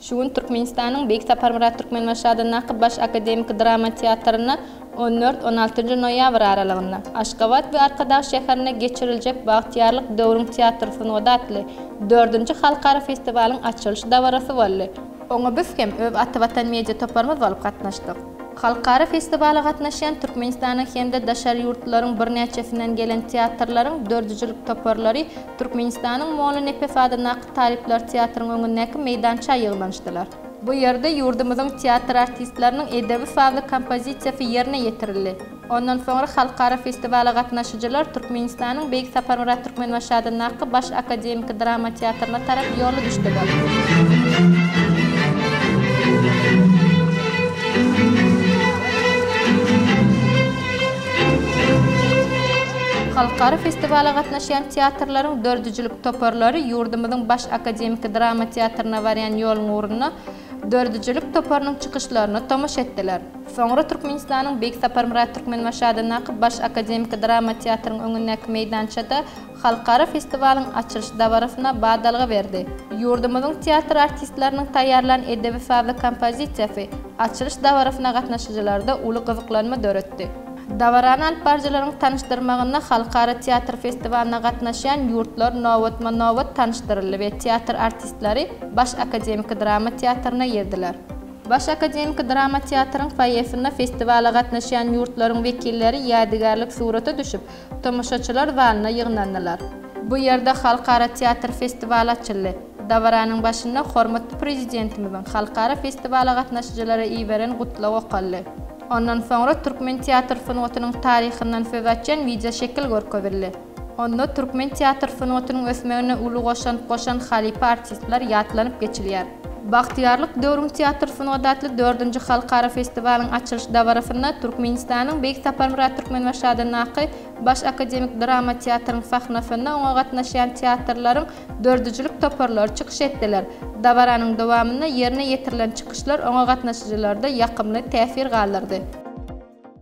Şu gün Türkmenistanyň Beýik Saparmyrat Türkmenbaşy adyndaky Baş akademiki drama teatrynda on dört, on altynjy noýabr aralygynda, Aşgabat we Arkadag şäherinde geçiriljek Bagtyýarlyk döwrüň teatr sungaty atly dördünji halkara festiwalyň açylyş dabarasy boldy. Oňa biz hem öz Ata Watan media toparymyz bolup gatnaşdyk. Halkara festiwala gatnaşýan Türkmenistanyň hem-de daşary ýurtlaryň birnäçesinden gelen teatrlaryň dördüjilik toparlary Türkmenistanyň Mona Nepes adyndaky talyplar teatryň öňündäki meýdança ýygnanyşdylar. Bu ýerde ýurdumyzyň teatr artistleriniň edebi-sazly kompozisiýasy ýerine ýetirildi. Ondan soňra halkara festiwala gatnaşyjylar Türkmenistanyň Beýik Saparmyrat Türkmenbaşy adyndaky Baş akademiki drama teatryna tarap ýola düşdüler. Halkara festiwala gatnaşyjylar Şeýle-de, teatrlaryň döredijilik toparlary ýurdumyzyň baş akademiki drama teatryna barýan ýoluň ugrunda döredijilik toparynyň çykyşlaryna tomaşa etdiler. Soňra Türkmenistanyň Beýik Saparmyrat Türkmenbaşadyndaky baş akademiki drama teatryň öňündäki meýdançada halkara festiwalyň açylyş dabarasyna badalga berdi. Ýurdumyzyň teatr artistleriniň taýýarlan edebi-sazly kompozisiýasy açylyş dabarasyna gatnaşyjylarda uly gyzyklanma döretdi. Dabarany alyp baryjylaryň tanyşdyrmagynda halkara teatr festiwalyna gatnaşýan ýurtlar nobatma-nobat tanyşdyryldy we teatr artistleri Baş akademiki drama teatryna girdiler. Baş akademiki drama teatryň foýesinde festiwala gatnaşýan ýurtlaryň wekilleri ýadygärlik surata düşüp, tomaşaçylar zalyna ýygnandylar. Bu ýerde halkara teatr festiwaly açyldy. Dabaranyň başynda hormatly Prezidentimiziň halkara festiwala gatnaşyjylara iberen Gutlagy okaldy. Ondan soňra türkmen teatr sungatynyň taryhyndan söz açýan wideoşekil görkezildi. Onda türkmen teatr sungatynyň ösmegine uly goşant goşan halypa artistler ýatlanyp geçilýär. Bagtyýarlyk döwrüň teatr sungaty atly dördünji halkara festiwalyň açylyş dabarasynda Türkmenistanyň Beýik Saparmyrat Türkmenbaşy adyndaky Baş akademik drama teatryň sahnasynda oňa gatnaşýan teatrlaryň döredijilik toparlary çykyş etdiler. Dabaranyň dowamynda ýerine ýetirilen çykyşlar oňa gatnaşyjylarda ýakymly täsir galdyrdy.